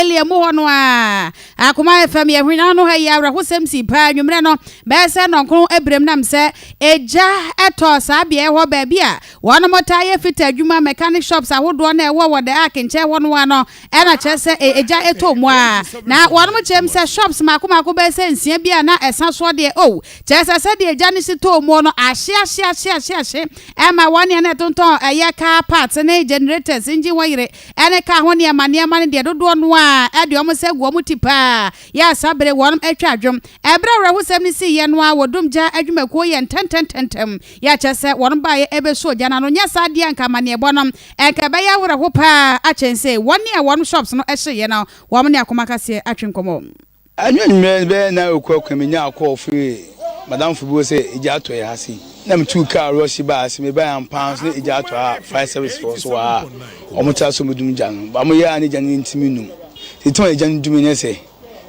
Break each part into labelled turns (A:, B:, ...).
A: Eli emu hɔ no ara. Akoma ayɛ fam, yɛ hwene ano ha yi awerɛhosɛm sii paa anwummerɛ no bɛyɛ sɛ nnɔnkron abiram nam sɛ egya tɔɔ saa beaeɛ hɔ baabi a wɔnom taa yɛ fita adwuma mechanic shops ahodoɔ na ɛwɔ wɔ the ark nkyɛn hɔ no ara no ɛna kyerɛ sɛ egya tɔɔ mu ara na wɔnom kyerɛm sɛ shops mako mako bɛyɛ sɛ nsia bi a na ɛsa soɔ deɛ oh kyerɛ sɛ sɛdeɛ egya no si tɔɔ mu no ahye ahye ahye ahye ahye ɛma wɔn nea na ɛtontɔn ɛyɛ car parts ne generators engine wɔ yere ɛne kaa ho nneɛma nneɛma no deɛ dodoɔ no ara ɛde wɔn nsa agu wɔn ti paa yɛ asa bere wɔn atwa adwom. Ɛberɛ a awerɛhosɛm no siiɛ no ara wɔ dum gya adwumakuo yɛ ntɛntɛntɛntɛm yɛ kyerɛ sɛ wɔn baeɛ ɛbɛsuo gya no ano, nyɛ saa deɛ a nka amanneɛbɔ no nka ɛbɛyɛ awerɛho paa akyɛn sei. Wɔn a wɔn shops no hyeeɛ no wɔn ne akoma kaseɛ atwe nkɔmmɔ. Anwummere
B: bɛyɛ nnan rekɔ kwan, minyaa kɔɔ fii m'adamfo bi hɔ sɛ egya atɔ yɛn ha sei. Na mituu kar rɔhye baa ase. Mebae ampa ara nso na egya atɔ a fire service fo nso wɔ ha a wɔte ase a wɔbedum gya no. Ba mo yɛ a na gya no rentumi nnum. Tete ma egya no dumii ne sɛ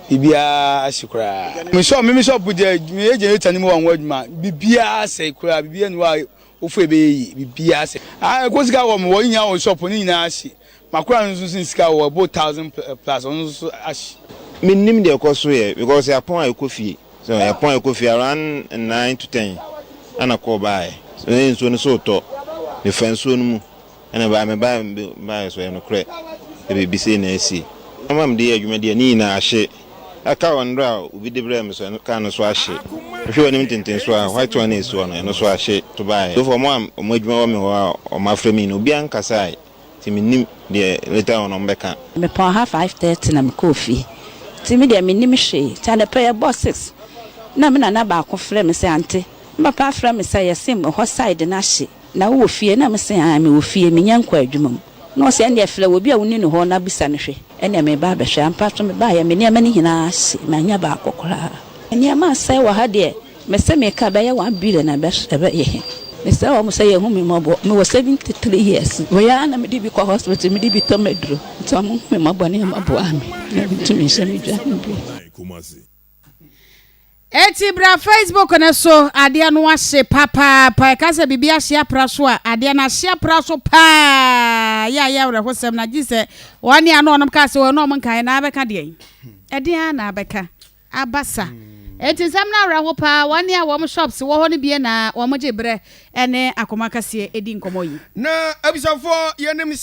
B: biribiara ahye koraa. Me shop, me me shop deɛ meyɛ generator no mu wɔ ho adwuma. Biribiara asɛe koraa, biribiara nni hɔ a wofue bɛyɛ yie. Biribiara asɛe. Ae, ɛkɔ sika wɔ me hɔ, ne nyinaa wɔ shop hɔ, ne nyinaa ahye. Makora no nso sen sika o ɛbɔ thousand plus ɔno nso so ahye. Me nnim deɛ ɛkɔ
C: so yɛ because yɛapɔn a ɛkɔ fie so yɛapɔn a ɛkɔ fie around nine to ten ɛna call baeɛ so ɛyɛ nsuo no so retɔ me fa nsuo no mu ɛna ɛbaeɛ me baeɛ me baeɛ so ɛyɛ nokorɛ sɛ biribi sei na asi ama mede yɛ adwuma deɛ ne nyinaa ahye ɛka wɔ nnora a obi de brɛɛ me so ɛno kaa no so ahye wohwɛ w'anim tenten so a white one na ɛsi hɔ no ɛno so ahye to baeɛ so for wɔn a wɔn adwuma wɔ me hɔ a wɔafrɛ me no obiara nkasaeɛ. Nti mennim deɛ later on ɔmo bɛka. Mepɔn ha five
D: thirty na mekɔɔ fie nti me deɛ mennim hwee nti anɔpa yi ɛbɔɔ six na me nana baako frɛ me sɛ ante me papa afrɛ me sɛ yɛse hɔ side no ahye na wowɔ fie na mese aane mewɔ fie menyɛ nkɔ adwuma mu na ɔse ɛneɛ frɛ obi a woni no hɔ na bisa no hwɛ ɛneɛ meba abɛhwɛ ampa so mebaeɛ me nneɛma no nyinaa ahye mannya baako koraa. Nneɛma asɛe wɔ ha deɛ. Mese meka ɛbɛyɛ one billion a ɛbɛyɛ he? Mesrɛ wɔn sɛ yɛhu me mmɔbɔ, mewɔ seventy three years, wei ara na mede bi kɔ hospital, mede bi tɔ m'aduro, nti wɔn nhu me mmɔbɔ ne wɔn mmoa me na mentumi nhyɛ me dwa he bio.
A: Eti bra Facebook no so, adeɛ no ahye papaapa, ɛka sɛ biribi ahye apra so a, adeɛ no ahye apra so paa, yɛ a yɛ awerɛhosɛm na gye sɛ wɔn a na wɔn kaa sɛ wɔn na wɔn nkaeɛ na abɛka deɛn? Ɛdeɛn ara na abɛka? abasa. Enti nsɛm no awerɛ ho paa. Wɔn a wɔn shops wɔ hɔ no bie na wɔgye berɛ
E: ne
A: akoma kɛseɛ di nkɔmmɔ
E: yi.
A: Na abusuafoɔ, yɛnim sɛ.